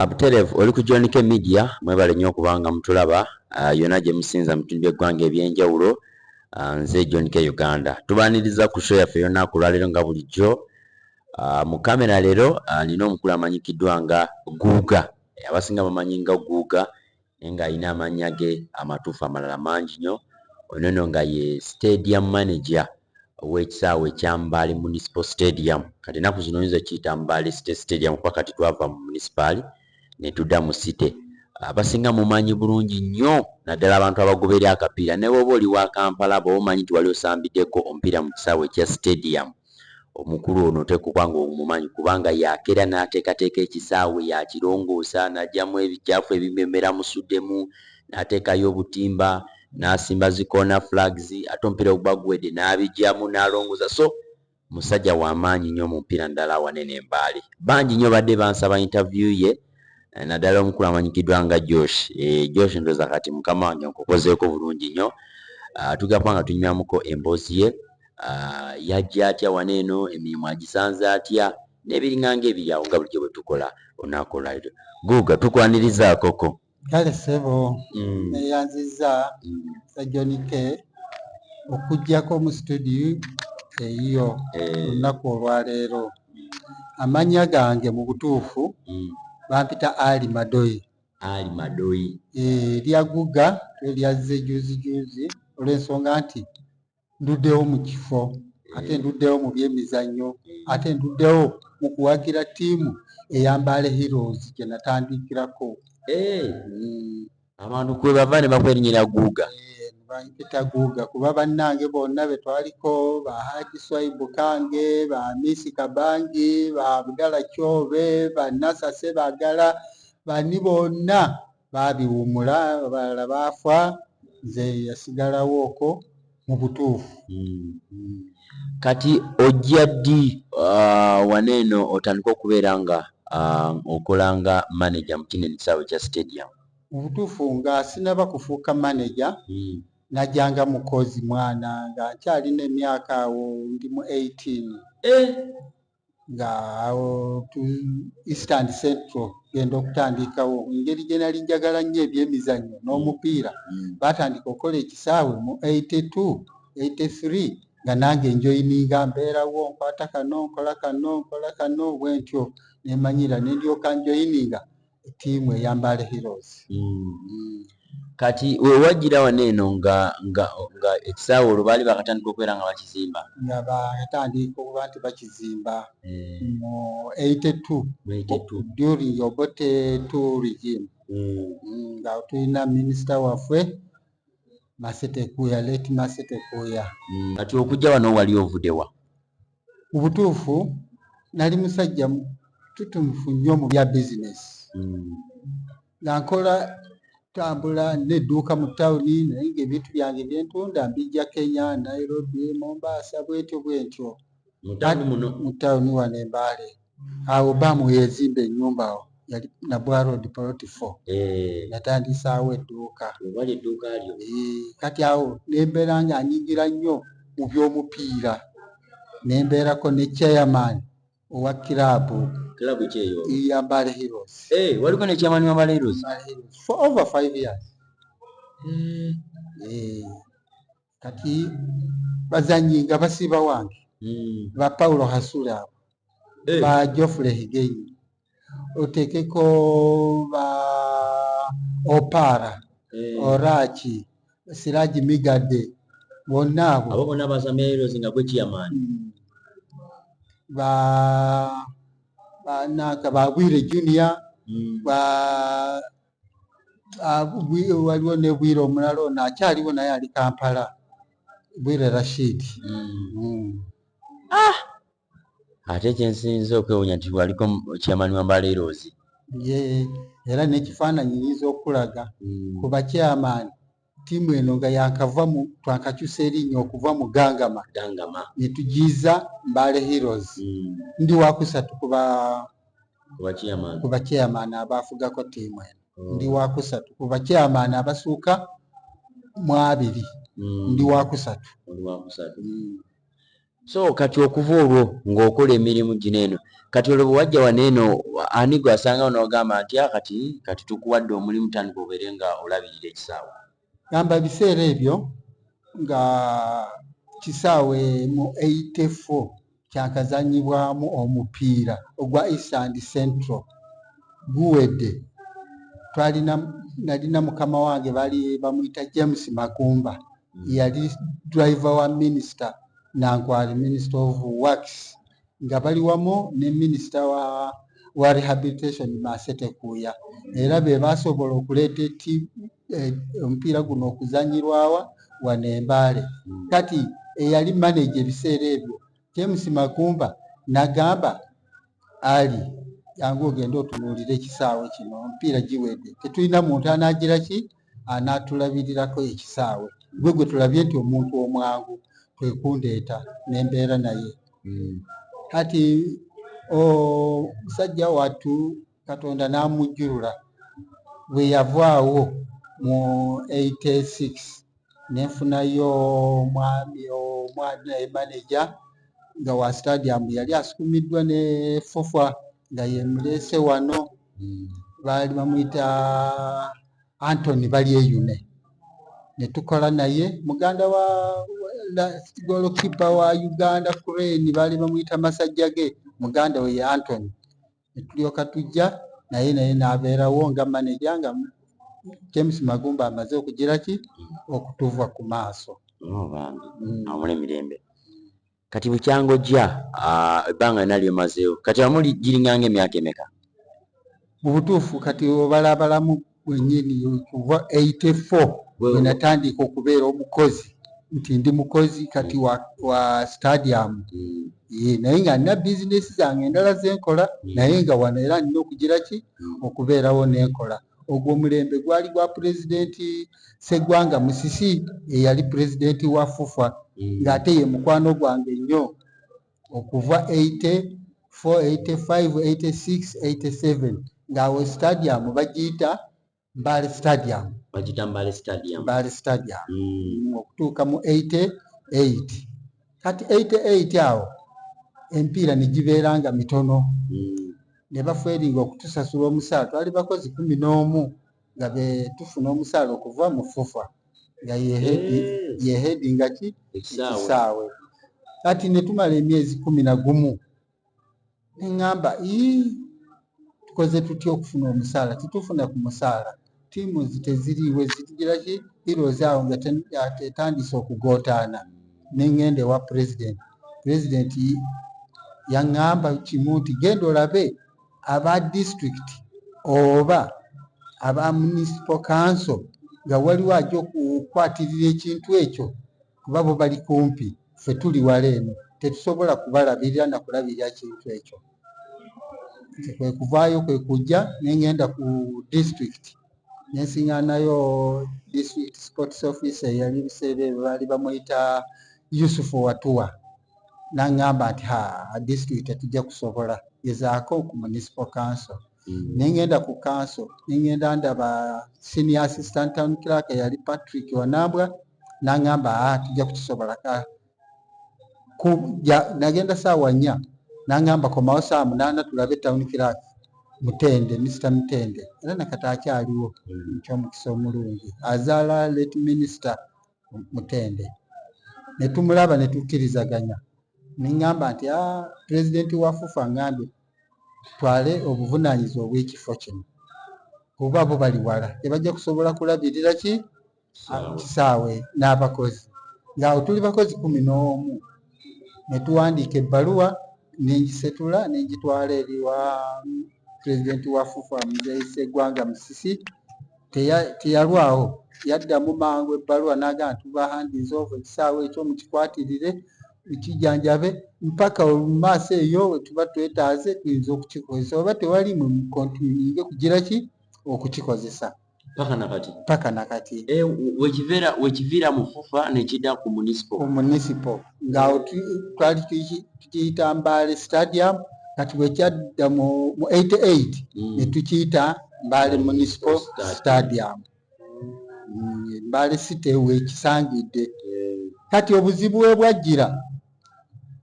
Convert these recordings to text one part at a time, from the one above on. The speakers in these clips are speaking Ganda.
Abutelevu oli ku John K Media mwebale nnyo okubanga mutulaba uh, yona gye musinza mu bitundu by'eggwanga eby'enjawulo uh, nze John K Uganda tubaniriza ku show yaffe yonna ku lwaleero nga bulijjo uh, mu kamera leero uh, nina omukulu amanyikiddwa nga Guuga abasinga bamanyi nga Guuga naye ng'alina amannya ge amatuufu amalala mangi nnyo. Ono no nga ye stadium manager ow'ekisaawe ekya Mbale Municipal Stadium. Kati ennaku zino oyinza okiyita Mbale City Stadium kuba kati twava mu munisipaali ne tudda mu City. Abasinga mumanyi bulungi nnyo naddala abantu abagoberera akapiira ne bw'oba oli wa Kampala bw'oba omanyi nti wali osambideko omupiira mu kisaawe ekya Stadium. Omukulu ono oteekwa okuba ng'omumanyi kubanga y'akeera n'ateekateeka ekisaawe, y'akirongoosa n'aggyamu ebicaafu ebimu bye mubeera musuddemu, n'ateekayo obutimba, n'asimba zi corner flags ate omupiira bwe guba guwedde n'abiggyamu n'alongoosa so musajja wa maanyi nnyo mu mupiira naddala awanene e Mbale. Bangi nnyo babadde bansaba interview ye. eh, naddala omukulu amanyikiddwa nga josh eh, josh ndoza kati mukama wange nkukozeeko bulungi nnyo ah, tugamba nga tunywamuko emboozi ye ah, yajja atya wana eno emirimu agisanze atya nebiringanga ebiri awo nga bulijjo bwe tukola olunaku olwaliro guuga tukwanirizaakoko kale sebo mm. neyanziza mm. sajonike okujjako mu situdiyo eyiyo eh. olunaku olwaleero Amannya gange mu butuufu mm. bampita Ali Madoyi. Ali Madoyi. Eh, lya Guga lyazze juzi juzi olw'ensonga nti nduddewo mu kifo eh. ate nduddewo mu byemizannyo eh. ate nduddewo mu kuwagira ttiimu eya Mbale Heroes gye natandikirako. Eh. Mm. abantu kwebava ne bakwerinyira guuga eh, bampita guuga kuba bannange bonna be twaliko ba haji swaibu kange ba misi kabangi ba abdala kyobe ba nasa sebagala bani bonna babiwumula abalala baafa nze yasigalawo okwo mubutuufu mm. kati ojja ddi uh, wana eno otandika okubeera nga uh, okola nga manager mukino ekisaawe kya stadium mubutuufu nga sinaba kufuuka manager mm. najanga mukozi mwana nga nkyalina emyaka awo ndi mu 18 eh. nga awo tu east and central genda okutandikawo engeri gye nali njagala nnyo ebyemizannyo n'omupiira mm. baatandika okukola ekisaawe mu 82 83 nga nange njoyininga mbeerawo nkwata kano nkola kano nkola kano bwentyo nemanyira nendyoka njoyininga tiimu eya Mbale Heroes. Mm. Mm. Kati we wajjira wano eno nga nga nga ekisaawe olwo baali bakatandika okubeera nga bakizimba? Nga bakatandika okuba nti bakizimba eh. mu eighty two during Obote two regime mm. Mm, nga tulina minisita waffe Masete Kuya, late Masete Kuya. Kati okujja wano wali ovudewa? mu butuufu nali musajja tutumufu nnyo mu bya bizinesi hmm. nga nkola tambula nedduuka mu tawuni naye nga ebintu byange byentunda mbijja kenya nairobi mombaasa bwetyo bwentyo mu tawuni wano embaale awo bba mu yazimba ennyumba awo yali nabwa road poloti fo eh. natandiisaawo edduuka webali edduuka lyo eh, kati awo nembeera nga anyingira nnyo mu by'omupiira nembeerako ne chairman owa kiraabu kiraabu kyeyo ya mbale heroes eh, waliko ne chairman wa mbale heroes for over five years mm. eh. kati bazanyi nga basiiba wange hmm. ba paulo hasula abo eh. ba jofule higenyi otekeko ba opara eh. oraki siraji migade bonna abo abo bonna bazameerozi nga gwe chairman hmm. ba banaka babwire junior hmm. ba Ah, waliwo ne bwire omulala ono akyaliwo naye ali kampala bwire rashid hmm. Hmm. Ah! ate kyensinza okwewunya nti waliko kyamani wambaleeroozi ye era nekifaananyi nyinza okulaga hmm. kuba kyamaani Ttiimu eno nga yaakava mu twakakyusa erinnya okuva mu Gangama Gangama ne tugiyiza Mbale Heroes. Mm. Ndi waakusatu ku ba ku bakyeyamaani abaafugako ttiimu eno. Oh. Ndi waakusatu ku bakyeyamaani abasuuka mu abiri. Mm. Ndi waakusatu. Oli waakusatu. Mm. so kati okuva olwo ng'okola emirimu gino eno kati olwo bwewajja wano eno ani gwe asangawo n'ogamba nti a ah, kati kati tukuwadde omulimu tandika obeere nga olabirira ekisaawe gamba ebiseera ebyo nga kisaawe mu 84 kyakazanyibwamu omupiira ogwa eastand central guwedde twalina nalina mukama wange bali bamuyita james magumba yali driver wa minister nankwali minister of works nga bali wamu ne minister wa wa rehabilitation masete kuya era be basobola okuleeta eti eh, omupiira guno okuzanyirwawa wano embaale kati eyali manaje ebiseera ebyo James Magumba nagamba ali yangu ogende otunuulire ekisaawe kino omupiira giwedde tetulina muntu anaagira ki anaatulabirirako ekisaawe gwe gwe tulabye nti omuntu omwangu kwe kundeeta ne mbeera naye hmm. kati omusajja wattu katonda n'amujjulula bwe yavaawo mu 86 ne nfunayo omwami omwami naye maneja nga wa stadium yali asukumiddwa ne fofa nga yemuleese wano hmm. baali bamuyita antony balyeyune ne tukola naye muganda wa golokipa wa uganda crane baali bamuyita masajja ge muganda we ye antony ne tulyoka tujja naye naye n'abeerawo nga maneja nga James Magumba amaze okugira ki okutuva ku maaso oh, bambi mm. amula emirembe kati bukyangojja ah, ebbanga lina lyomazeewo kati amuli giringanga emyaka emeka mu butuufu kati obalabalamu wenyini kuva 84 wenatandika okubeera omukozi nti ndi mukozi kati wa, wa stadium mm. ye naye nga nina bizinesi zange endala zenkola mm. naye nga wano era nina okugira ki mm. okubeerawo nenkola ogwo omulembe gwali gwa pulezidenti segwanga musisi eyali pulezidenti wa fufa mm. ng'ate ye mukwano gwange nnyo okuva 80 485-86-87 ng'awo stadium bagiyita Mbale stadium bagiyita Mbale stadium Mbale stadium mm. okutuuka mu 88 kati 88 awo empiira ne gibeera nga mitono mm. ne baferinga okutusasula omusaala twali bakozi kumi n'omu nga be tufuna omusaala okuva mu fufa nga yehedi nga ki ekisaawe kati netumala emyezi kumi na gumu neŋamba tukoze tutya okufuna omusaala titufuna ku musaala tiimu teziriiwe zitugira ki irozi awo nga etandise okugootaana neŋenda ewa pulezidenti pulezidenti yaŋamba kimu nti genda olabe aba district oba aba municipal council nga waliwo ajja okukwatirira ekintu ekyo kuba bo bali kumpi ffe tuli wala eno tetusobola kubalabirira na kulabirira kintu ekyo nze kwe kuvaayo kwe kujja ne ngenda ku district ne nsiŋŋaanayo district sports office eyali ebiseera ebyo baali bamuyita yusufu watuwa nangamba nti ha district tetujja kusobola gezaako ku municipal council mm. nengenda ku council nengenda ndaba senior assistant town clerk yali patrick wanambwa nangamba a ah, tujja kukisobola ka nagenda saawa nnya nangamba komawo saa munaana tulabe town clerk mutende mr mutende era nakata akyaliwo mm. ekyomukisa omulungi azaala late minister mutende ne tumulaba ne tukkirizaganya ne ŋŋamba nti a ah, pulezidenti wa fufa ŋŋambe twale obuvunaanyizibwa obw'ekifo kino kuba bo bali wala tebajja kusobola kulabirira ki kisaawe n'abakozi ng'awo tuli bakozi kumi n'omu ne tuwandiika ebbaluwa ne ngisetula ne ngitwala eri wa pulezidenti wa FUFA Muzeeyi Sseggwanga Musisi teyalwawo yaddamu mangu ebbaluwa n'agamba tuba handizi ovo ekisaawe ekyo mukikwatirire ekijanjabe mpaka olumaaso eyo wetuba twetaaze tuyinza okukikozesa oba tewali mwe mukontinuinge kugira ki okukikozesa paka nakati paka nakati e, wekivera wekivira mufufa nekida ku municipal ku municipal nga twali tukiyita mbale stadium kati wekyadda mu 88 mm. netukiyita mbale municipal stadium mm, mbale city wekisangidde kati obuzibu webwajjira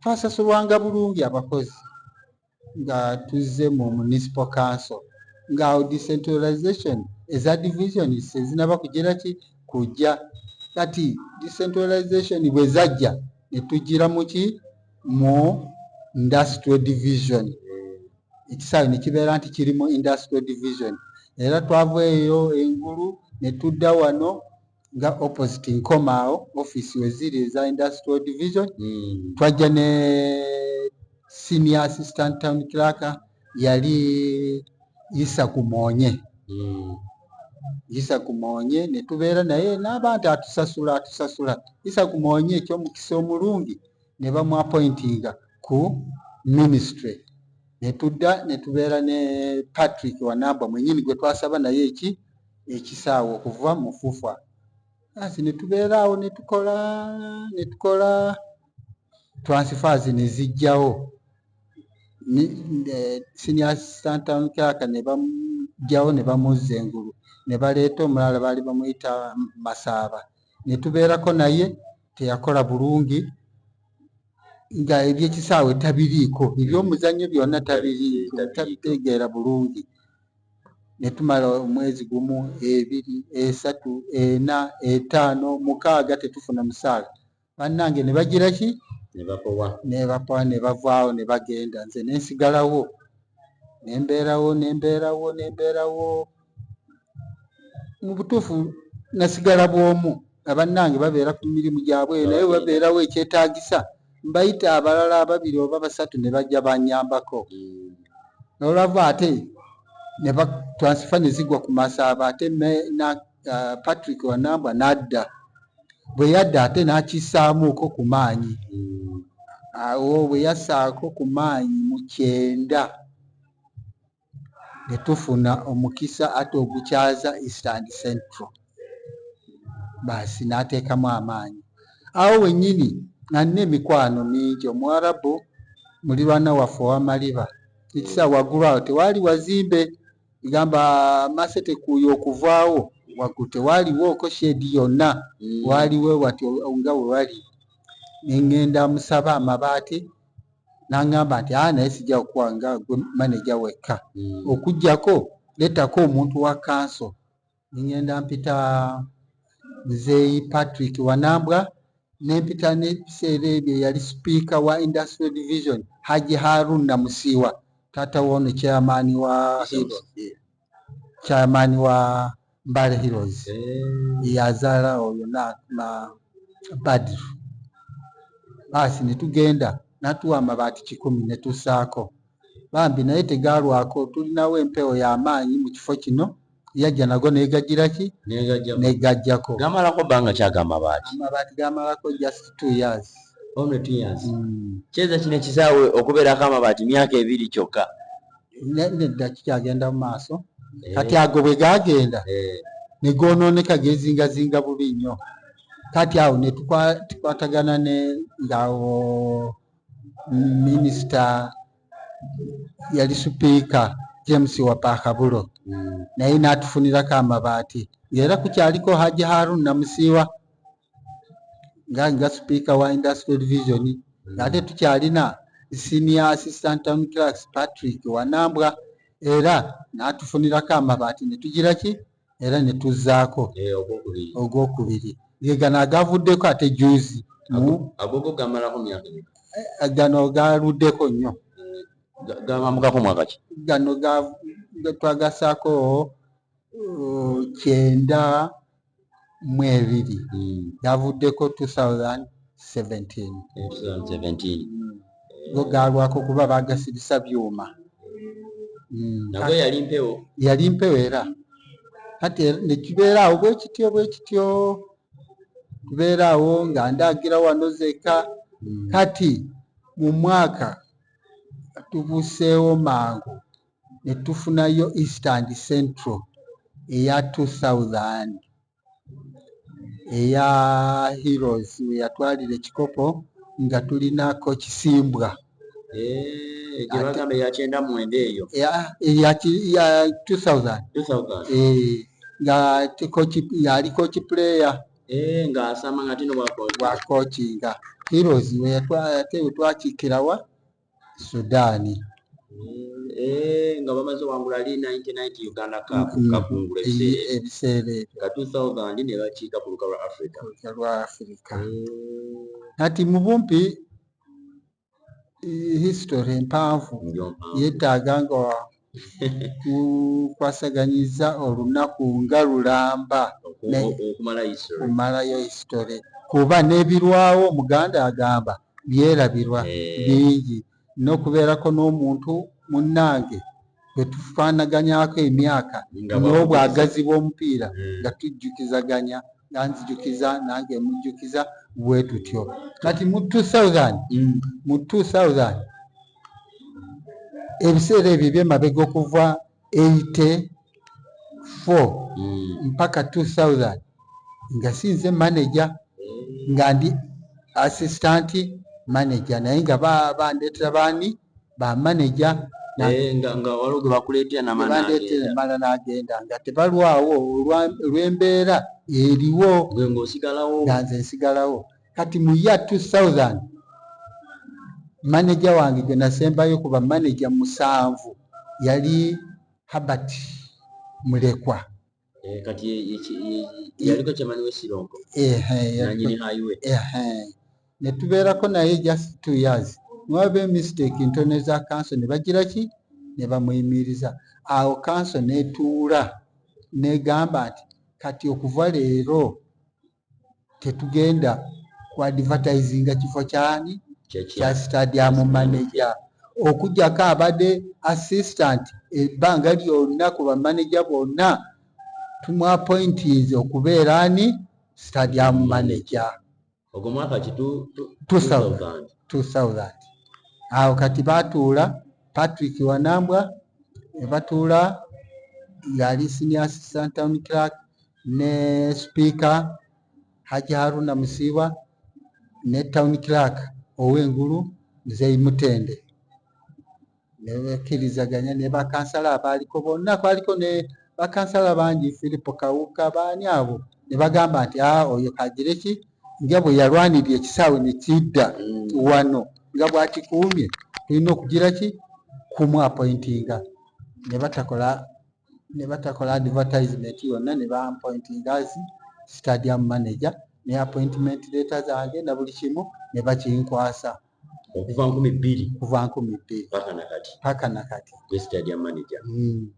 twasasulwanga bulungi abakozi nga tuzze mu municipal council nga awo decentralization eza divisions ezinaba kugira ki kujja kati decentralization bwe zajja ne tugira muki mu industrial division ekisaawe ne kibeera nti kiri mu industrial division era twava eyo engulu ne tudda wano nga opposite nkomaawo office weziri eza industrial division mm. twajja ne senior assistant town clerk yali isa kumonye mm. isa kumonye netubeera naye n'abantu atusasula atusasula isa kumonye ekyomukisa omulungi ne bamuapointinga ku ministry netudda netubeera ne patrick wanamba mwenyini gwe twasaba naye eki ekisaawe okuva mu fufa asi ne tubeera awo ne tukola ne tukola transfers ne zijjawo eh, senior assistant town clerk ne bamujjawo ne bamuzza engulu ne baleeta omulala baali bamuyita masaaba ne tubeerako naye teyakola bulungi nga ebyekisaawe tabiriiko ebyomuzannyo byonna tabiriiko tabitegeera bulungi ne tumala omwezi gumu, ebiri, esatu, ena, etaano, mukaaga tetufuna musaala. Bannange ne bagira ki? Ne bapowa ne bavaawo ne bagenda nze ne nsigalawo ne mbeerawo ne mbeerawo ne mbeerawo mu butuufu nasigala bw'omu nga bannange babeera ku mirimu gyabwe naye babeerawo ekyetaagisa mbayita abalala ababiri oba basatu ne bajja banyambako nolwava ate ne batransifa ne zigwa ku masaaba ate na uh, patrick wanambwa n'adda bwe yadda ate n'akisaamuuko ku maanyi awo bwe yasaako ku maanyi mu kyenda ne tufuna omukisa ate ogukyaza Eastern Central baasi n'ateekamu amaanyi. Awo wennyini nga nnina emikwano mingi, Omuwarabu mulirwana waffe owa Maliba ekisa waggulu awo tewaali wazimbe gamba masetekuuya okuvaawo waggulu tewaaliwooko sheedi yonna mm. waaliwo wati nga we wali ne ŋŋenda amusaba amabaati n'aŋŋamba nti aa naye sijja kukuwa nga gwe maneja wekka hmm. okuggyako lettako omuntu wa kanso ne ŋŋenda mpita muzeeyi patrick wanambwa ne mpita n'ebiseera ebyo eyali sipiika wa industrial division haji harun namusiiwa taata woono chairman wa hibs chairman wa Mbale Heroes yazaala oyo na na Badru baasi ne tugenda natuwa amabaati kikumi ne tussaako bambi naye tegaalwako tulinawo empewo ya maanyi mu kifo kino yajja nago negagira ki negajjako gamalako bbanga ki ago amabaati amabaati gamalako just two years only two years mm. kyeza kino ekisaawe okubeerako amabaati myaka ebiri kyokka nedda kikyagenda mu maaso eh. kati ago bwe gagenda eh. ne goonooneka geezingazinga bubi nnyo kati awo ne tukwatagana ne ngaawo minisita yali supiika james wapakabulo hmm. naye n'atufunirako amabaati era kukyaliko haji harun namusiiwa nga nga sipiika wa industrial division mm. ate tukyalina senior assistant town clerks patrick wanambwa era n'atufunirako amabaati ne tugira ki era ne tuzzaako eh, ogwokubiri ge gano agavuddeko ate juzi agogo gamalako myaka eh, gano galuddeko nnyo mm, gabambukako mwaka ki gano twagasaako uh, kyenda mu ebiri hmm. yavuddeko 2017 go gaalwako kuba bagasirisa byuma hmm. yali mpewo era kati nekibeeraawo bwekityo bwekityo kubeeraawo nga ndaagira wano zeka hmm. kati mu mwaka tubuseewo mangu ne tufunayo East and Central eya 2000 eya Heroes we yatwalira ekikopo nga tulinako Kisimbwa eh, eya 2000 eh, nga yaliko kipuleya eh, bwakokinga Heroes we yatwakikirawa sudaani Eh, nga bamaze wangula li 99 uganda cup mm-hmm. kakungula ebiseera ebyo nga 2000 ne bakiika ku luka lwa africa luka lwa africa eh. kati mu bumpi history empanvu yeetaaga nga tukwasaganyizza olunaku nga lulamba okumalayo history kuba nebirwawo omuganda agamba byerabirwa eh. bingi nokubeerako n'omuntu munnange bwetufaanaganyako emyaka n'obwagazi bw'omupiira eh. nga tujjukizaganya nga nzijukiza nange mujjukiza bwetutyo kati mu 2000 mm. mu 2000 ebiseera ebyo ebyemabega okuva 84 hmm. mpaka 2000 nga sinze manaja nga ndi assistant manaja naye nga bandetera baani bamanaja eh, mala nagenda nga tebalwawo olwembeera eriwo nga nze nsigalawo kati mu ya 2000 maneja wange gwe nasembayo ku bamaneja musanvu yali habert mulekwa eh, kati yaliko kyamani wesironko netubeerako naye just two years nwaba emistake ntone za kanso ne bagira ki ne bamuyimiriza awo kanso netuula negamba nti kati okuva leero tetugenda ku advertisinga kifo kyani kya stadium manager okujjako abade assistant ebbanga lyonna ku bamaneja bonna tumwapointinze okubeera ani stadium manager ogwo mwaka ki 2000 awo kati batuula patrick wanambwa nebatuula yali senior assistant town clerk ne sipiika Hajji Haruna Musiiba ne town clerk ow'engulu Mzei Mutende ne bakkirizaganya ne bakansala abaaliko bonna kwaliko ne bakansala bangi Philip Kawuka baani abo ne bagamba nti a ah, oyo kagire ki nga bwe yalwanirira ekisaawe ne kidda mm. wano nga bwakikuumye tulina okugira ki kumu appointinga ne batakola ne batakola advertisement yonna ne bampointinga as stadium manager ne appointment leeta zange na buli kimu ne bakinkwasa okuva nkumi bbiri kuva nkumi bbiri paka nakati paka nakati ne stadium manager mm.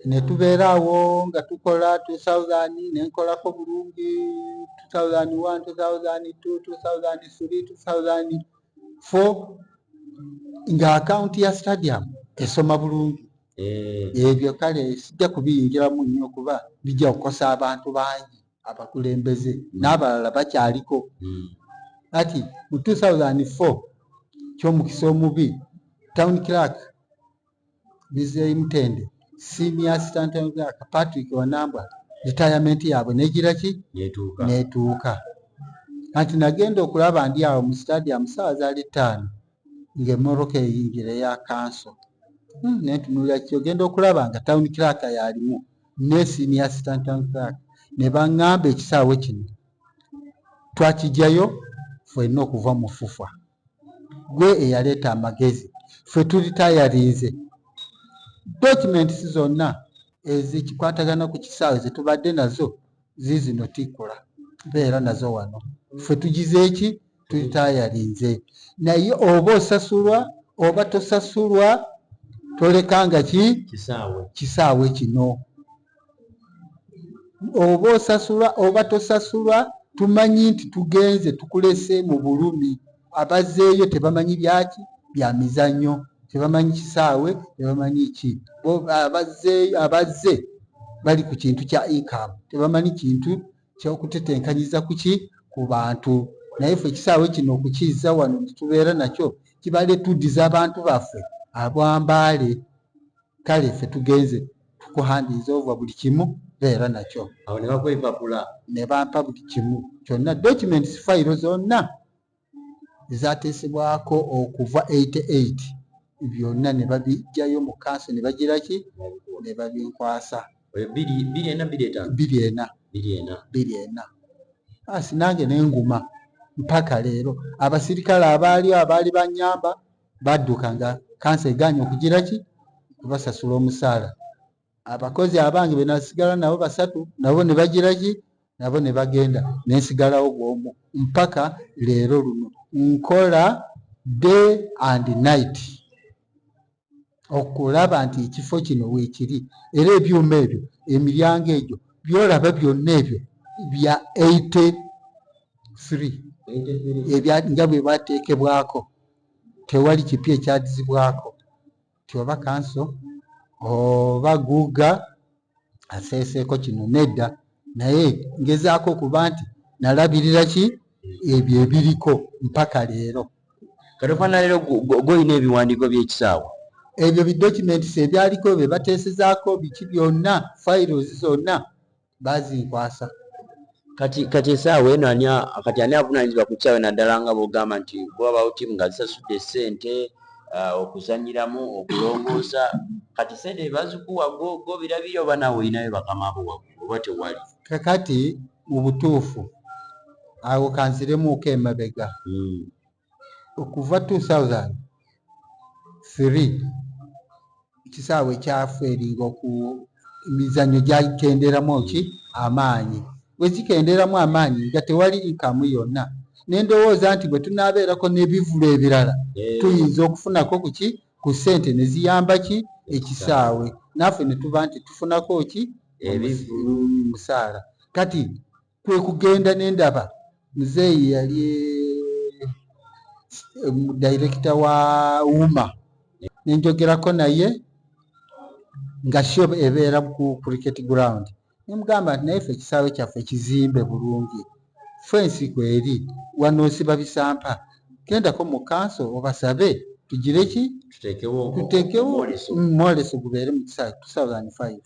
ne tubeeraawo nga tukola 2000 ne nkolako bulungi 2001 2002 2003 2000 fo nga akawunti ya stadium esoma bulungi eh. ebyo kale sijja kubiyingiramu nnyo kuba bijja kukosa abantu bangi abakulembeze hmm. n'abalala bakyaliko hmm. kati mu 2004 ky'omukisa omubi town clark bizeyi mutende senior assistant town clark patrick wanambwa retirement yaabwe negira ki netuuka kati nagenda okulaba ndi awo mu stadium saawa zaali ttaano ng'emmotoka eyingira eya kanso hmm, naye ntunuulira ki ogenda okulaba nga town clerk yalimu ne senior assistant town clerk ne baŋŋamba ekisaawe kino twakijjayo fwenna okuva mu fufa gwe eyaleeta amagezi ffe tuli tayarinze documents zonna ezikikwatagana ku kisaawe zetubadde nazo zizino tikula beera nazo wano ffe tugize eki tutitayalinze naye oba osasulwa oba tosasulwa tolekanga ki kisaawe kino oba osasulwa oba tosasulwa tumanyi nti tugenze tukulese mu bulumi abazeeyo tebamanyi byaki bya mizannyo tebamanyi kisaawe tebamanyi ki abazeeyo abazze bali ku kintu kya incam tebamanyi kintu kyokutetenkanyiza kuki ku bantu naye fe ekisaawe kino okukizza wano netubeera nakyo kibale tuddiza abantu baffe abwambaale kale fe tugenze kuhandiiza ova buli kimu beera nakyo awo ne bakwepapula ne bampa buli kimu kyonna documents fayiro zonna ezateesebwako okuva 88 byonna ne babijjayo mu kanso ne bagira ki ne babinkwasa biri ena biri etaano biri ena biri ena biri ena asi nange ne nguma mpaka leero abasirikale abaaliyo abaali banyamba badduka nga kansa egaanye okugira ki kubasasula omusaala abakozi abange benasigala nabo basatu nabo ne bagira ki nabo ne bagenda nensigalawo bwomu mpaka leero luno nkola day and night okulaba nti ekifo kino weekiri era ebyuma ebyo emiryango egyo byolaba byonna ebyo bya 83 nga bwe bateekebwako tewali kipya ekyadizibwako nti oba kanso oba guuga aseeseeko kino nedda naye ngezaako okuba nti nalabirira ki ebyo ebiriko mpaka leero katofanalero golina ebiwandiiko byekisaawa ebyo bidocuments ebyaliko bye bateesezaako biki byonna files zonna bazinkwasa kati kati esaawa eno ani kati ani avunanyizibwa ku kyawe naddala nga bwogamba nti bwabawo tiimu nga zisasudde esente uh, okuzanyiramu okulongoosa kati sente ebazikuwa gobirabiri oba nawe olinayo bakamabo waggulu oba tewali kakati mu butuufu awo kanziremuuko emabega hmm. okuva 2003 ekisaawe kyafu eringa oku emizannyo gyakenderamu ki amaanyi bwegikenderamu amaanyi nga tewali inkamu yonna nendowooza nti bwe tunaabeerako n'ebivulu ebirala eh. tuyinza okufunako kuki ku ssente ne ziyamba ki ekisaawe naffe ne tuba nti tufunako ki musaala kati kwe kugenda ne ndaba muzeeyi yali eh, direkita wa wuma ne njogerako naye nga shob ebeera ku cricket ground ne mugamba nti naye fe ekisaawe kyaffe kizimbe bulungi fensi kweri wanosiba bisampa gendako mu kanso obasabe tugire ki tuteekewo mwoleso gubeere mu kisaawe 2005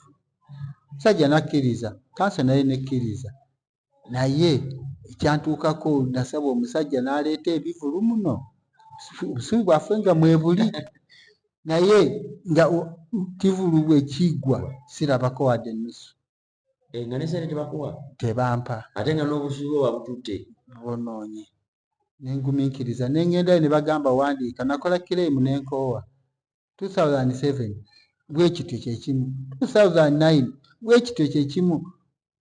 musajja nakkiriza kansa naye nekkiriza naye ekyantuukako nasaba omusajja n'aleeta ebivulu muno obusungu bwaffe nga mwebuli naye nga kivulu bwe kigwa sirabako wadde ennusu eh, nga nesente tebakuwa tebampa ate nga n'obusungu babututte bubonoonye ne ngumiikiriza ne ngendayo ne bagamba wandiika nakola kireemu ne nkoowa 2007 bwe kityo kye kimu 2009 bwe kityo kye kimu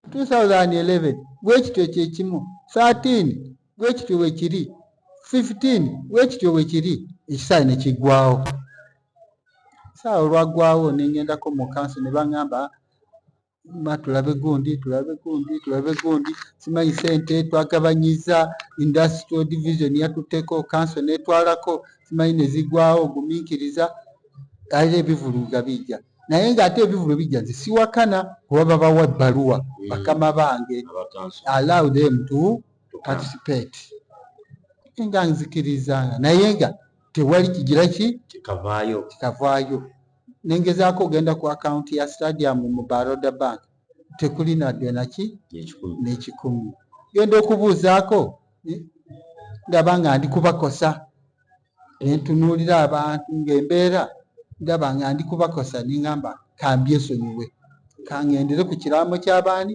2011 bwe kityo kye kimu 13 bwe kityo bwe kiri 15 bwe kityo bwe kiri ekisaawe ne kiggwawo saawa olwaggwawo ne ngendako mu kanso ne baŋŋamba ma tulabe gundi tulabe gundi tulabe gundi simanyi sente twagabanyiza industrial division yatuteko kanso netwalako simanyi nezigwawo guminkiriza era ebivulu nga bijja naye ngaate ebivulu bijja nze siwakana kuba babawa ebbaluwa mm. bakama bange allow them to participate nga nzikiriza naye nga tewali kigira ki kikavaayo nengezaako ogenda ku akawunti ya stadium mu baroda bank tekuli nadde naki nekikumu genda okubuuzaako ndaba nga ndi kubakosa nentunuulira abantu ngaembeera ndaba nga ndi kubakosa nengamba kambyesonyiwe kangendere ku kiraamo kyabaani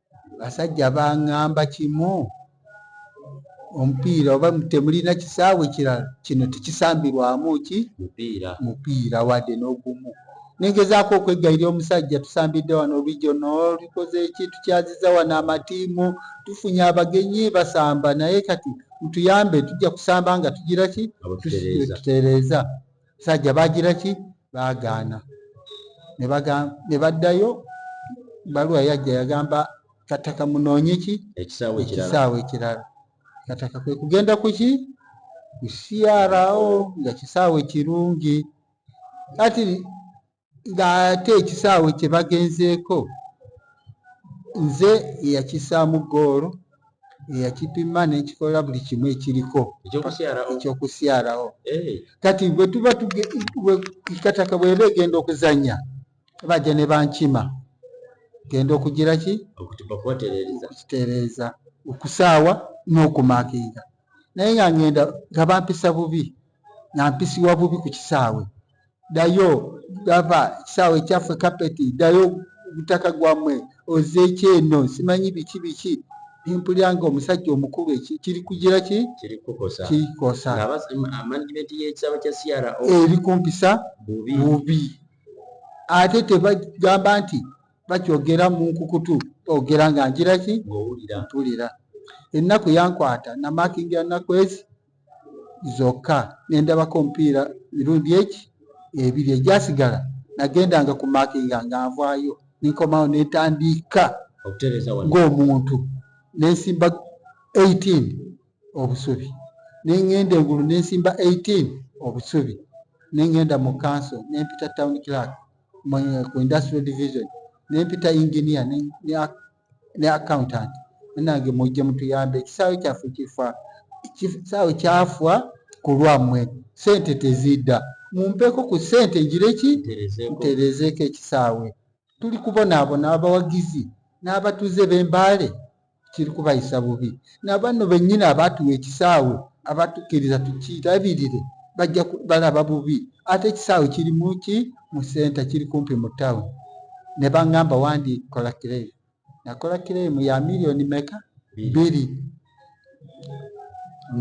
basajja bangamba kimu omupiira oba temulina kisaawe kirala kino tekisambirwamu ki mupiira wadde n'ogumu nengezaako okweggaira omusajja tusambidde wano region olikoze eki tukyaziza wano amatiimu tufunye abagenyi basamba naye kati mutuyambe tujja kusamba nga tugira ki tutereeza sajja bagira ki baagaana ne baddayo baluwa yajja yagamba kataka munoonye ki ekisaawe ekirala kataka kwe kugenda ku ki kusiarawo nga kisaawe kirungi kati ng'ate ekisaawe kye bagenzeeko nze eyakisaamu ggoolo eyakipima ne nkikola buli kimu ekiriko ekyokusyalawo kati bwe tuba kataka bweba egenda okuzannya bajja ne bankima genda okugira ki okukitereeza okusaawa n'okumakinga naye nga ngenda nga bampisa bubi nga mpisiwa bubi ku kisaawe dayo gava ekisaawe ekyaffe kapeti dayo gutaka gwamwe ozeeki eno simanyi biki biki nempulira nga omusajja omukulu eki kiri kugira ki kirikosa ebikumpisa bubi ate tebagamba nti bakyogera mu nkukutu ogera nga ngira ki mpulira ennaku yankwata namakingira nakwezi zokka nendabako omupiira mirundi eki ebiri egyasigala nagendanga ku makinga nga nvaayo ninkomawo netandiika ng'omuntu nensimba 18 obusubi nengenda engulu nensimba 18 obusubi nengenda mu kanso nempita town clark ku industrial division nempita engineer ne ne accountant nange mujje mutuyambe ekisaawe kyaffe kifa kisaawe kyafwa ku lwammwe sente tezidda mumpeko ku sente ngireki nterezeeko ekisaawe tuli kubonaabona abawagizi n'abatuuze b'embaale kiri kubayisa bubi nabanno bennyini abaatuwa ekisaawe abatukkiriza tukirabirire bajja balaba bubi ate ekisaawe kiri muki mu senta kiri kumpi mu town ne bangamba wandi kola claim nakola claim ya million meka biri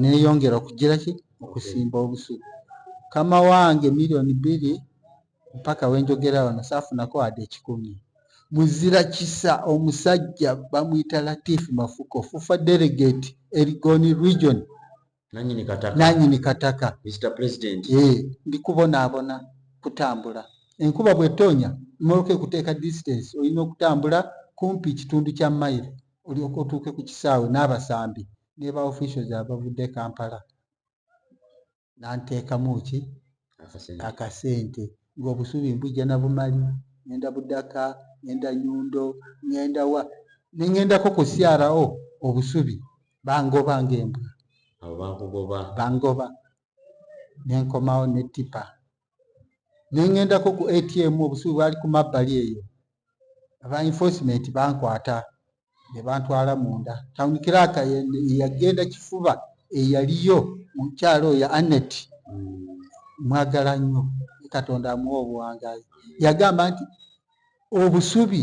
neyongera okugira ki okusimba obusu kama wange million biri mpaka wenjogera wano safunako ade ekikumi muzira kisa omusajja bamuyita latif mafuko fufa delegate erigoni region nanyini kataka nanyini kataka Mr President eh ndikubona abona kutambula enkuba bwetonya moloke kuteka distance oyino kutambula kumpi kitundu kya mile oli okotuke ku kisawe nabasambi neba officials abavude Kampala nanteka muki akasente ngo busubi mbuja na bumali nenda budaka nenda nyundo nenda wa nengendako ku CRO obusubi bangoba ng'embwa abo bakugoba bangoba ne nkomawo ne ttipa ne ŋŋendako ku atm obusubi bwali ku mabbali eyo aba enforcement bankwata ne bantwala munda tawuni kiraaka yagenda kifuba eyaliyo mukyalo oyo anet hmm. mwagala nnyo katonda amuwa obuwangazi yagamba nti obusubi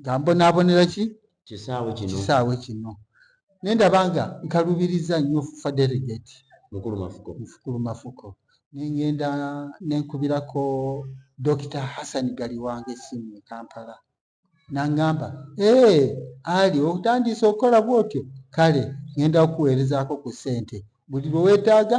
nga mbonaabonera ki kisaawe kino naye ndaba nga nkalubiriza nnyo fufa delegate mukulu mafuko nengenda nenkubirako dokita hassan gali wange esimu e kampala nangamba ee ali otandiisa okukola bwotyo kale ngenda okuweerezaako ku ssente buli lwe weetaaga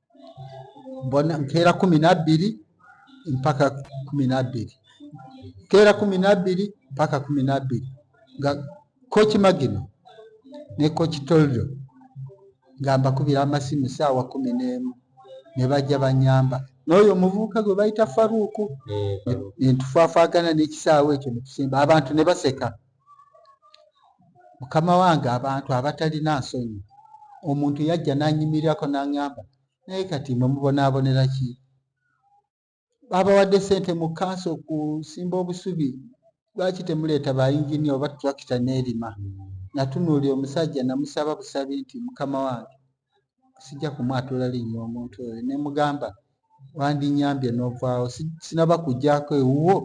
mbona nkeera kumi nabbiri mpaka kumi nabbiri nkeera kumi nabbiri mpaka kumi nabbiri nga koki magino ne koki toldo nga mbakubira amasimu saawa kumi n'emu ne bajja banyamba n'oyo omuvubuka gwe bayita faruuku eh, nentufafaagana n'ekisaawa ekyo netusimba abantu ne baseka mukama wange abantu abatalina nsonyi omuntu yajja nanyimirirako nangamba naye kati mwe mubonaabonera ki babawadde sente mu kanso okusimba obusubi lwaki temuleeta bayingini oba tulakita neerima natunuulira omusajja namusaba busabi nti mukama wange sijja kumwatula linnya omuntu oyo nemugamba wandinyambye novaawo sinaba kujjaako ewuwo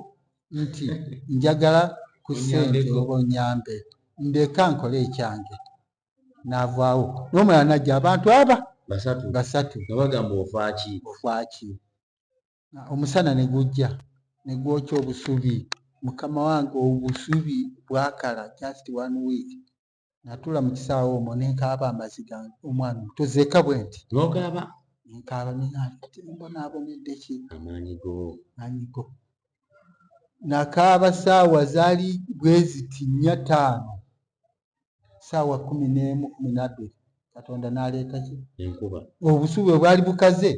nti njagala ku ssente oba onyambe ndeka nkole ekyange n'avaawo n'omulala najja abantu aba basatu basatu nga bagamba ofaaki ofaaki omusana ne gujja ne gwokya obusubi mukama wange obusubi bwakala just one week natula mu kisaawe omwo ne nkaaba amaziga omwana omuto zeeka bwe nti n'okaaba ne nkaaba ne mbonaabonedde ki amaanyi go maanyi go nakaaba saawa zaali bwe ziti nnya ttaano saawa kumi n'emu kumi nabbiri katonda n'aleeta ki enkuba obusu bwe bwali bukaze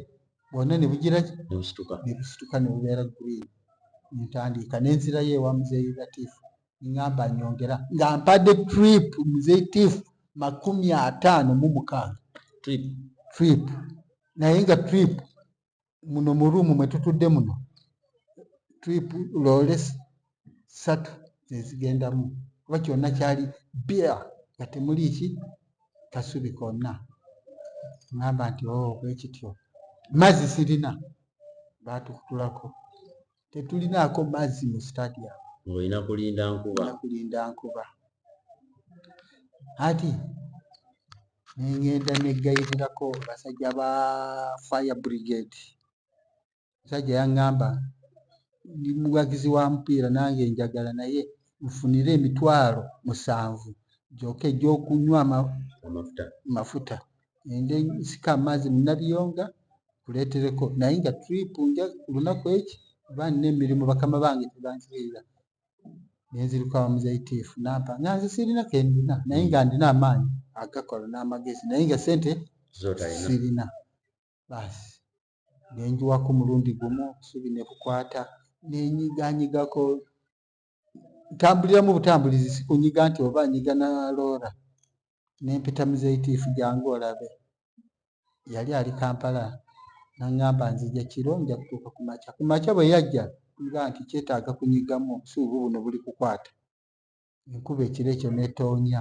bwonna ne bugira ki ne busituka ne busituka ne bubeera green ne ntandiika ne nzirayo ewa muzeeyi latifu ngamba nyongera nga mpadde trip mzeitif makumi ataano mu mukaaga trip trip naye nga trip muno mu ruumu mwe tutudde muno trip loole satu zezigendamu kuba kyonna kyali bia nga temuli ki kasubi konna ngamba nti o oh, bwekityo mazzi sirina batukutulako tetulinaako mazzi mu stadium olina kulinda nkuba kulinda nkuba ati nengenda negayitirako basajja ba fire brigade musajja yaŋŋamba ndi muwagizi wa mupiira nange njagala naye nfunire emitwalo musanvu gyoka egyokunywa amafuta ende sika amaazi mu nabiyonga kuleetereko naye nga trip nja lunaku eki kuba nina emirimu bakama bange tebanzirira nenziriko abamuzaitiifu nampa nga nze sirina kendina naye nga ndina amaanyi agakola n'amagezi naye nga sente sirina baasi nenjiwako omulundi gumu obusubi ne bukwata nenyiganyigako ntambuliramu butambulizi sikunyiga nti oba nyiga na loora nempita muzeitiifu jangu olabe yali ali kampala nangamba nzija kiro nja kutuuka ku makya ku makya bwe yajja nga nti kyetaaga kunyigamu obusuubu buno buli kukwata enkuba ekiro ekyo netonya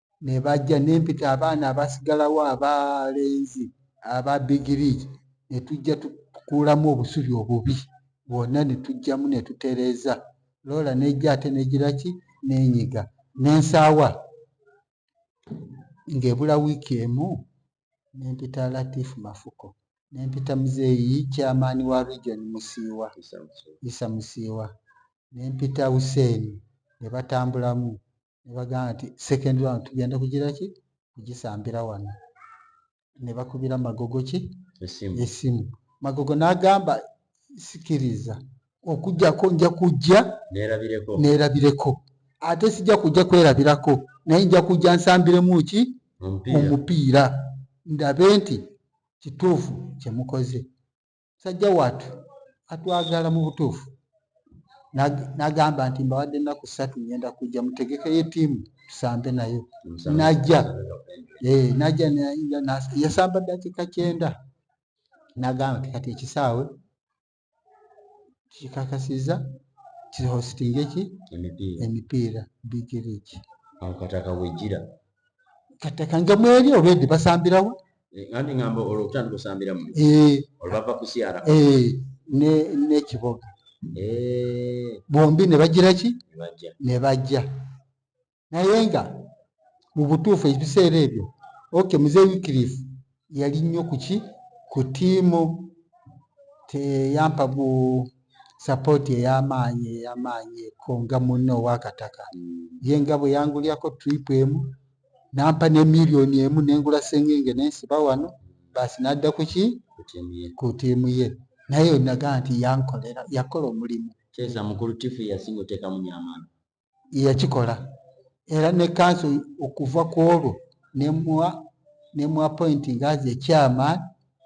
ne bajja ne mpita abaana abasigalawo abalenzi aba bigiriigi ne tujja tukuulamu obusubi obubi bwonna ne tujjamu ne tutereeza loola n'ejja ate n'egira ki n'enyiga n'ensaawa ng'ebula wiiki emu ne mpita Latif Mafuko ne mpita muzeeyi chairman wa region Musiiwa Isa Musiiwa ne mpita Hussein ne batambulamu ne bagamba nti second round tugenda kugira ki kugisambira wano ne bakubira magogo ki esimu magogo n'agamba sikiriza okujjako nja kujja neerabireko ate sijja kujja kwerabirako naye nja kujja nsambiremu ki omupiira ndabe nti kituufu kyemukoze musajja watu atwagala mu butuufu nagamba nti mbawadde ennaku ssatu ngenda kujja mutegekeyo etiimu tusambe nayo najja eh, najja yasamba ddakiika kyenda nagamba nti kati ekisaawe kikakasiza kihositinga eki emipiira bigiriki akataka wejira katakanga mweri olwedde basambirawo eh, andi ngamba olwo kutandika osambira mu eh. olwo bava kusiara eh, ne ne kiboga bombi ne bagira ki ne bajja naye nga mu butuufu ebiseera ebyo okay mzee wikirifu yali nnyo kuki ku tiimu teyampa gu sapooti ey'amaanyi ey'amaanyi ko nga munne ow'akataka mm. ye nga bwe yangulyako tiripu emu nampa ne miliyoni emu nengula sengenge nensiba wano baasi nadda kuki ku tiimu ye naye naga nti yankolera yakola omulimu kyeza mukulu tifu yasinga otekamu nyamaani yeyakikola era ne kanso okuva ku olwo nemwa nemwa appointing as a chairman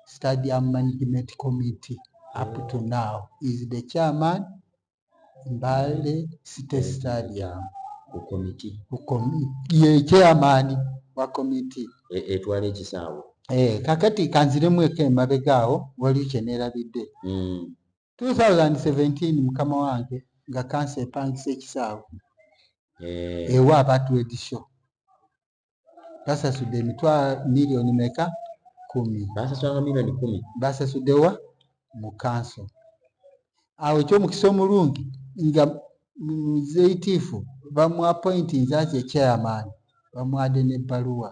stadium management committee up to now is the chairman mbale city stadium ku committee ku committee ye chairman wa committee e, etwala ekisaawe eh kakati kanziremu eke mabegaawo waliyo kyenelabidde mm. 2017 mukama wange nga kansa epangisa ekisaawe eh. ewa aba twed show basasudde emitwa miliyoni meka kumi basasulanga miliyoni kumi basasuddewa mu kanso awo ekyomukisa omulungi nga muzeitiifu bamuapointinze aze chairman bamwade nebbaluwa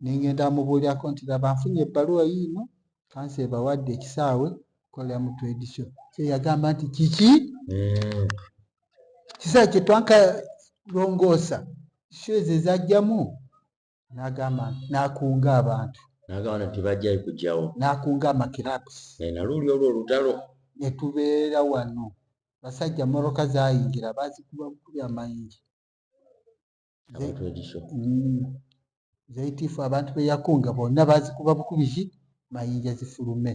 nengenda amubuulirako nti laba nfunye ebbaluwa yiino kansi ebawadde ekisaawe kolera mu trade show so yagamba nti kiki mm. kisaawe kyetwanka longoosa show ezo ezajjamu nagamba nakunga abantu nagamba nti bajjayo kujjawo nakunga amakirabs naye naluuli olwo olutalo netubeera wano basajja moroka zayingira bazikuba bukubya mayingi zaitifu mm. abantu beyakunga bonna bazikuba bukubizi mayinja zifulume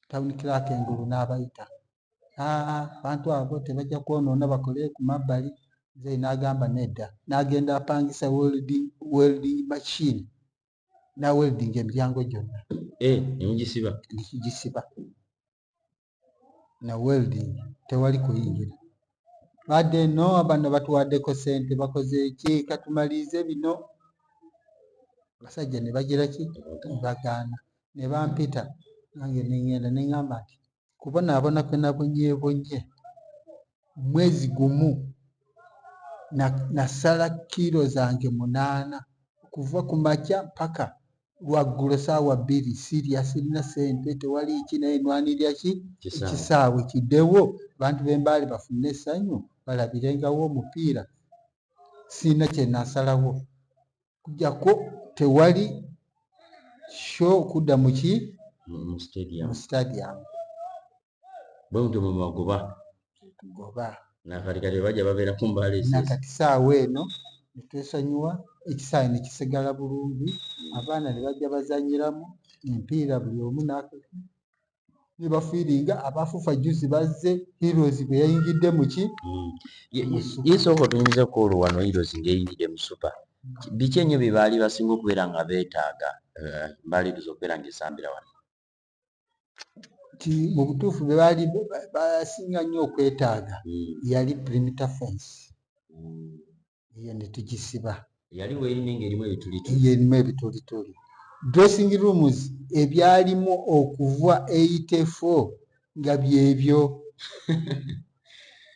town clark engulu n'abayita abantu abo tebajja kwonoona bakole ku mabbali nze n'agamba nedda n'agenda apangisa welding machine na welding emiryango gyonna eh, nemugisiba nekigisiba na welding tewali kuyingira badde no abana batuwaddeko sente bakoze ki katumaliize bino abasajja ne bagira ki bagaana ne bampita nange nengenda nengamba nti kubonaabona kwe nabonyebonye mwezi gumu nasala na kiiro zange munaana okuva ku makya mpaka lwaggulo saawa bbiri sirya sirina sente tewali ki naye nwanirira ki ekisaawe kiddewo abantu b'embaale bafune essanyu balabirengawo omupiira sirina kye nasalawo kujjako tewali sho kudda muki mu stadium bwe mutyo mwe mubagoba tugoba nakati kati bajja babeera ku mbaala ezi nakati saawa eno ne twesonyiwa ekisaawe ne kisigala bulungi abaana ne bajja bazanyiramu empiira buli omu n'aka ne bafiiringa abafufa juzi bazze heroes bwe yayingidde mu ki Mm. Ye- Mu ye- super. ye sooka otunyumiza ku olwo wano heroes ng'eyingidde mu supa biki ennyo bye baali basinga okubeera nga beetaaga eh, mbaaliiriza okubeera ng'esambira wano nti mu butuufu be baali basinga nnyo okwetaaga hmm. yali perimeter fence hmm. eyo ne tugisiba yali weyini ng'erimu ebitulituli erimu ebitulituli dressing rooms ebyalimu okuva eitefo nga byebyo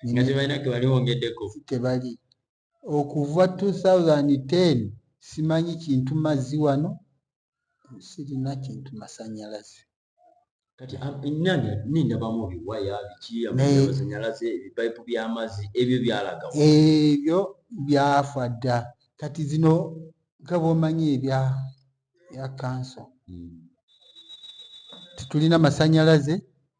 nga tebalina kebali wongeddeko tebali Okuva 2010 simanyi kintu mazzi wano sirina kintu masanyalaze. Kati ennyanja nini ndabamu ebiwaya biki amasanyalaze ebipayipu by'amazzi ebyo byalaga ebyo byafa dda kati zino nga bwomanyi ebya ya kanso hmm. tetulina masanyalaze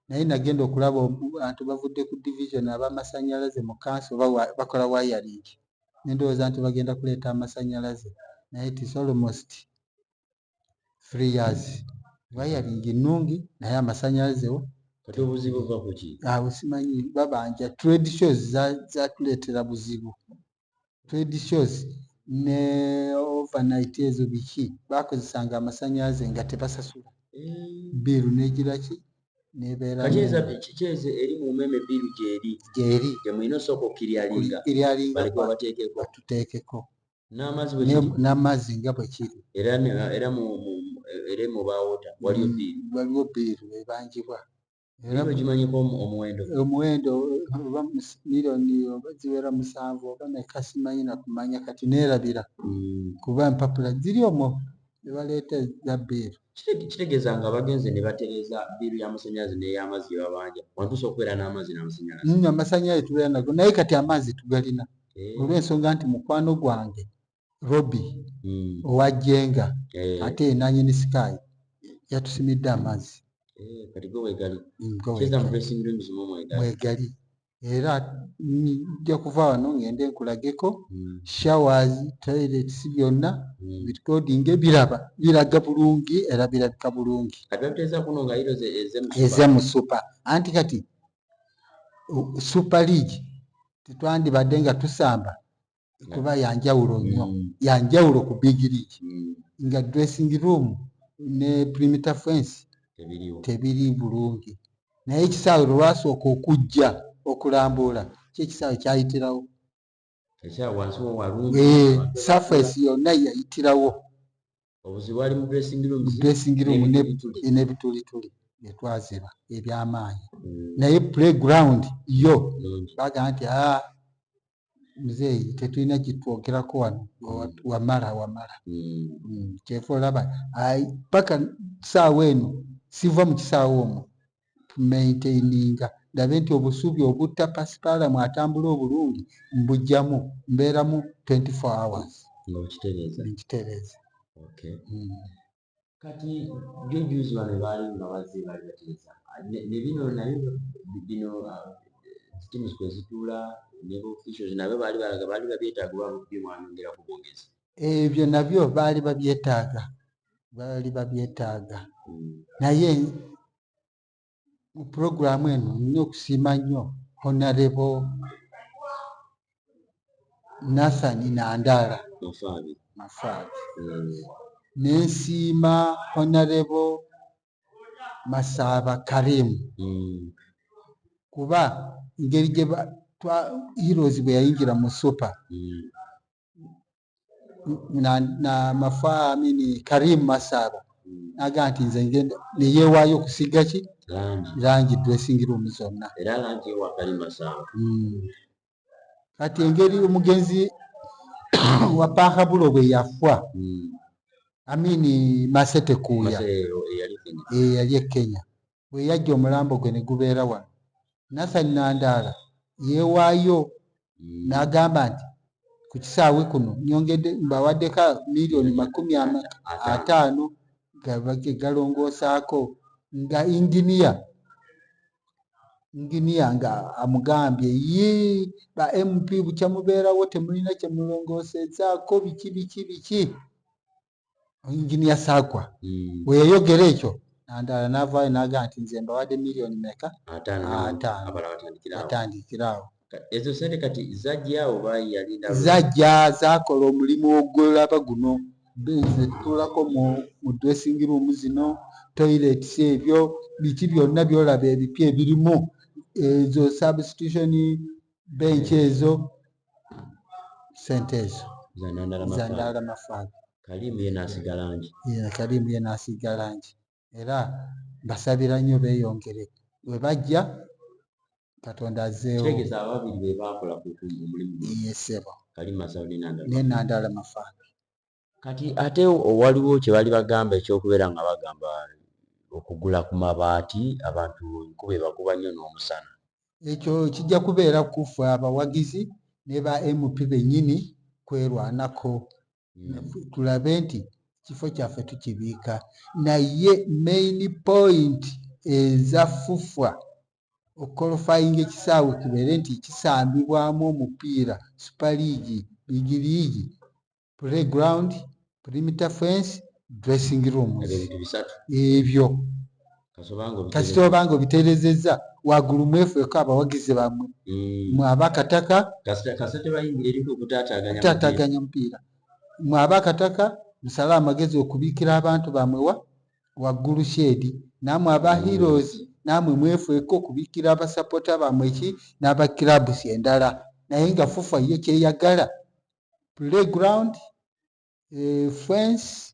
naye nagenda okulaba abantu bavudde ku division abamasanyalaze mu kanso bakola wayaling nendowooza nti bagenda kuleeta amasanyalaze naye it is almost three years wayaling nnungi naye amasanyalaze wo kati obuzibu va kuki abo ah, simanyi babanja trade shows zatuleetera buzibu trade shows ne overnight ezo biki bakozesanga amasanyalaze nga tebasasula biiru negiraki nebeerakikyeze eri mu umeme biiru gyeri gyeri gyemulina osooka okukiryalinga iryalingaatuteekeko n'amazzi nga bwe kiri era era mu era mu baawota waliyo biiru waliwo biiru ebanjibwa omuwendo oba miriyoni oba ziwera musanvu oba meka simanyi nakumanya kati neerabira hmm. kuba empapula ziri omwo ne baleeta eza bbeeru kitegeeza nga bagenze ne batereeza bbiiru y'amasannyalaze n'ey'amazzi gye babanja wantu osobola okubeera n'amazzi n'amasannyalaze hmm, amasannyalaze tubeera nago naye kati amazzi tugalina eh. olw'ensonga nti mukwano gwange Robi hmm. owa Jenga eh. ate nanyini Sky yatusimidde amazzi eh, kati gwe wegali mwegali hmm, era nja kuva wano ngende nkulageko hmm. showers toilets byonna bitkoding biraba biraga bulungi era birabika bulungi eze mu super anti kati super league tetwandibadde nga tusamba kuba yanjawulo nnyo mm. yanjawulo ku big league mm. nga dressing room ne primitor fence tebiri bulungi naye ekisaawe lwewasooka okujja okulambuula kyekisaawe kyayitirawo eh, surface yonna yayitirawo dressing room nebitulituli byetwaziba ebyamaanyi mm. naye playground yo bagamba nti ah, muzeeyi tetulina kitwogerako wano mm. wamala wamala mm. mm, kyeva olaba paka kisaawa eno siva mu kisaawa omwo tumaintaininga ndabe nti obusuubi obutta pasipaalamu atambula obulungi mbujjamu mbeeramu 24 hours nkitereeza kati jo juzi bano baali nga bazze baali bateesa ah, ne bino naye bino ah, teams kwe zituula ne officials nabyo baali balaga baali babyetaaga oba bye mwanyongera ku bwogezi ebyo eh, nabyo baali babyetaaga baali babyetaaga hmm. naye mu pulogulaamu eno nina okusiima nnyo honarebo nathan nandaala mafaabi hmm. nensiima honarebo masaaba karimu hmm. kuba ngeri gye heroes bwe yayingira mu super hmm. na, na mafaa amini karim masaba hmm. naga nti nze ngenda neyewaayo okusiga ki langi dressing room zonna hmm. kati engeri omugenzi wa pahabulo bwe yafwa hmm. amini masete kuuya eyali e kenya bwe yajja omulambo gwe ne gubeera wano Nathan Nandaala yeewaayo mm. n'agamba nti ku kisaawe kuno nyongedde mbawaddeko miliyoni makumi ataano galongoosaako nga inginiya inginiya nga amugambye ye ba mp bukyamubeerawo temulina kyemulongoosezaako biki biki biki engineer sagwa mm. weyayogera ekyo nandala navaayo naga nti nze mbawadde million meka atandikiraawo ezo sente kati zajjaawo bayalinda zajja zakola omulimu ogwolaba guno benze tutulako mu mu dressing room zino toilets ebyo biki byonna byolaba ebipya ebirimu ezo substitution benki ezo sente ezo zandala mafaaga kalimu ye nasiga langi kalimu ye nasiga langi era basabira nnyo beyongere webajja katonda azeewobabiri bebakola omulimu yesebo nenandala mafaaga kati ate waliwo kyebali bagamba ekyokubeera nga bagamba okugula ku mabaati abantu enkuba ebakuba nnyo n'omusana. Ekyo kijja kubeera ku ffe abawagizi ne ba MP bennyini kwerwanako hmm. tulabe nti ekifo kyaffe tukibiika naye main point eza FUFA okukolofayinga ekisaawe kibeere nti kisambibwamu omupiira super league big league playground perimeter fence dressing rooms ebyo kasita oba nga obiterezeza wagulu mwefeko abawagizi bamwe mm. mwaba akataka tataganya omupiira mwaba akataka musale amagezi okubikira abantu bamwewa waggulu sheedi namwe aba mm. heroes namwe mwefeko okubikira abasapota bamwe ki n'abakirabusi endala naye nga fufa ye kyeyagala playground eh, fence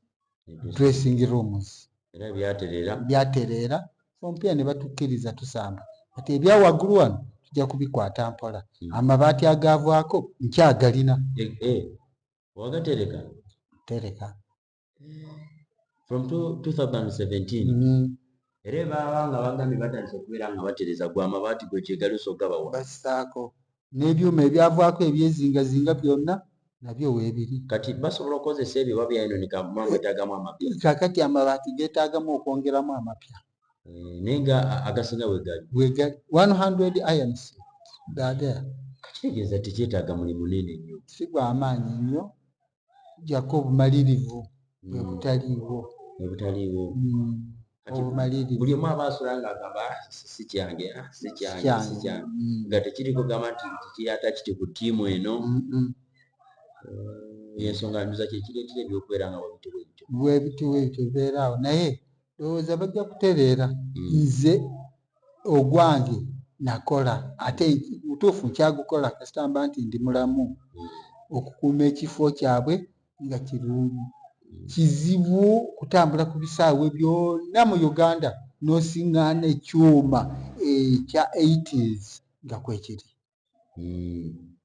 dressing rooms era byatereera byatereera ompira ne batukkiriza tusamba kati ebya waggulu wano tujja kubikwata mpola hmm. amabaati agaavaako nkyagalina eh, eh. wagatereka tereka from 2017 mm-hmm. era ebaaba nga bagambye batandise okubeera nga batereza gwe amabaati gwe kyegalusa ogabawa basaako n'ebyuma ebyavaako ebyezingazinga byonna nabyo weebiri kati basobola okukozesa ebyo oba byayononika mama etagamu amapya kakati amabaati geetaagamu okwongeramu amapya eh, naye nga agasinga wegali wegali 100 irons gagaya kakitegeeza tekyetaaga mulimu nene nnyo si gwamaanyi nnyo jako obumalirivu bwe hmm. butaliiwo bwe butaliiwo hmm. buli omu aba asula nga agamba ah, si kyange ah, si kyange si kyange hmm. nga tekiri kugamba nti kiyata kiti ku tiimu eno eh, ensonga nduza kyekireetera ebyokubeera nga webitiwebityo webitiwebityo beeraawo naye lowooza bajja kutereera nze ogwange nakola ate mutuufu nkyagukola kasita mba nti ndi mulamu okukuuma ekifo kyabwe nga kirungi kizibu kutambula ku bisaawe byonna mu uganda nosiŋŋaana ekyuma ekya 80s nga kwekiri hmm.